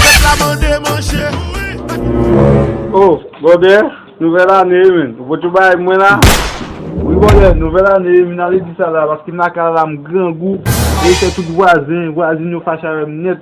Pèp la mande manje. Oh brother nouvèl ane men ou pot yon bagay pou mwen la? Wi brother nouvèl ane men nan ledi sa la paske m lakay la m grangou e se tout vwazen vwazin yo fache avèm nèt.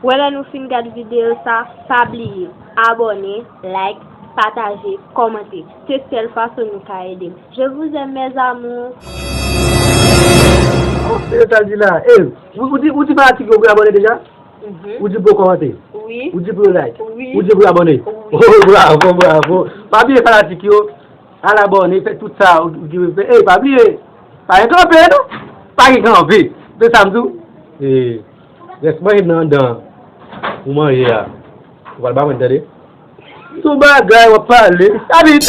Wè lè nou fin gad video sa pa bliye abone like pataje komante se sèl fason nou ka edem je vous aime mes amours. Ou di pou yo kòmante? Wi. Ou di pou yo like? Wi. Ou di pou yo abòne? Wi. Oh bravo bravo. Pa bliye fanatik yo al abòne fè tout sa ou di pou yo fè. Ey pa bliye pa gen kanpe non. Pa gen kanpe. Tande sa m di w? Ey rès manje nan anndan an ou manje a ou pral ba mwen tande. Sou bagay wap pale. Sa vit.